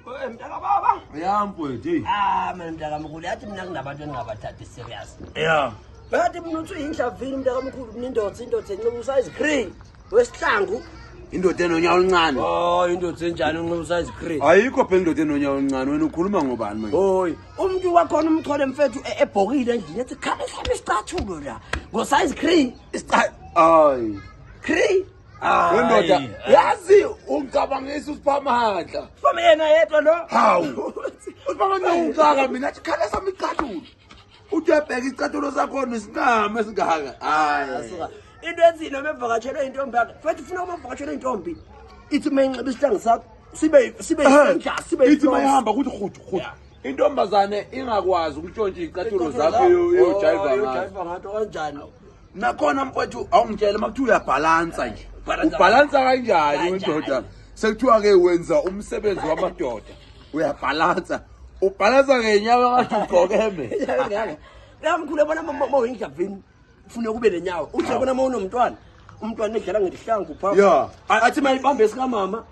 Eh, mntaka baba ya mfowethu eyi ah mina mntaka mkhulu yathi mina kunabantu engingabathathi serious ya yathi mina uthi uyinhlavini mntaka mkhulu mina indoda indoda enxiba usize green wesihlangu indoda enonyawo oluncane oh indoda enjani unxiba usize green ayikho phela indoda enonyawo oluncane wena ukhuluma ngobani manje hoy umuntu wakhona umthole mfethu e- ebhokile endlini ethi khale hlame isicathulo la ngosize green isicathulo ay green Hayi. Wendoda yazi ungicabangisa usiphamandla. Siphamandla yena yedwa lo. Hawu. Usiphamandla ungicaka mina athi khala sami icathulo. Uthi uyabheka icathulo sakho nesinqama esingaka. Hayi. Into enzile mevakatshelwe intombi yakhe. Futhi ufuna uma uvakatshelwe intombi. Ithi uma inxiba isihlangu sakho sibe sibe senja sibe. Ithi uma ihamba kuthi khudu khudu. Intombazane ingakwazi ukutshontsha icathulo zakho yo yo jive ngathi. Kanjani? nakhona mfowethu awungitshele uma kuthiwa uyabhalansa nje ubhalansa kanjani wendoda sekuthiwa-ke wenza umsebenzi wamadoda uyabhalansa ubhalansa ngenyawo ngathi ugqokeme namkhulu abona uma uyinjavini fune kube nenyawo uthi abona uma unomntwana umntwana edlala ngedihlangu phaa athi mayibambe sikamama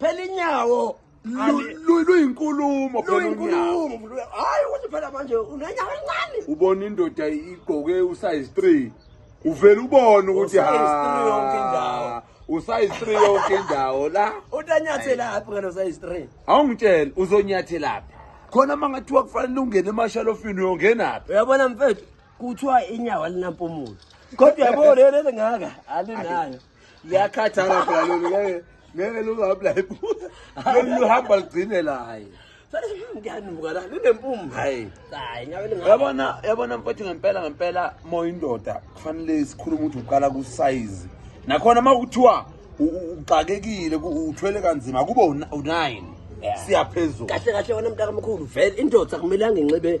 phela inyawo luyinkulumo hayi ukuthi phela manje unenyawo elincane ubona indoda igqoke usize three uvele ubone ukuthi ha usize three yonke indawo la utanyathelaphi ngalo size three awungitshela uzonyathelaphi khona uma ngathiwa kufanele ungene emashalofini uyongenaphi uyabona mfethu kuthiwa inyawo alinampumulo kodwa yabo lelo lingaka alinayo liyakhathala phela lolu ngeke ngeke lungabla iphutha lolu luhamba lugcine laye ngiyanuka la linempumbu hayi hayi ngabe lingabe yabona yabona mfowethu ngempela ngempela moyindoda kufanele sikhulume ukuthi uqala kusayizi nakhona uma kuthiwa u- u- uxakekile ku- uthwele kanzima kube u- u-nine Yeah. siyaphezulu kahle kahle wena mntakamkhulu vele indoda akumelanga inxibe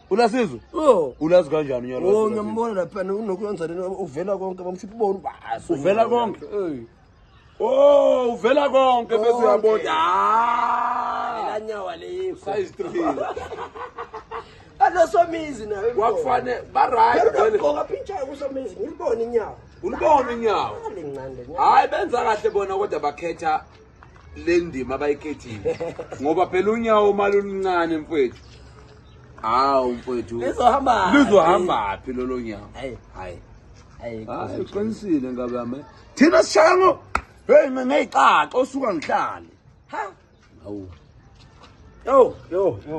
Unasizwe? Oh. Ulazi kanjani nyalo? Oh, ngiyambona lapha nokuyenza lena uvela konke bamshiphi bona ubasi. Uvela konke. Hey. Oh, uvela konke bese uyabona. Ah! La nyawa leyo. Size 3. Alosomizi nawe. Wakufane ba right. Ngokugqoka pintsha kusomizi ngilibona inyawo. Ulibona inyawo. Hayi benza kahle bona kodwa bakhetha le ndima abayikhethile ngoba phela unyawo uma luluncane mfowethu hawu mfowethu lizohamba lizohamba phi lolo nyawo hayi hayi hayi ah, uqinisile ngabe yami thina sishaya ngo hey ngeyixaxa osuka ngihlale ha hawu yo yo yo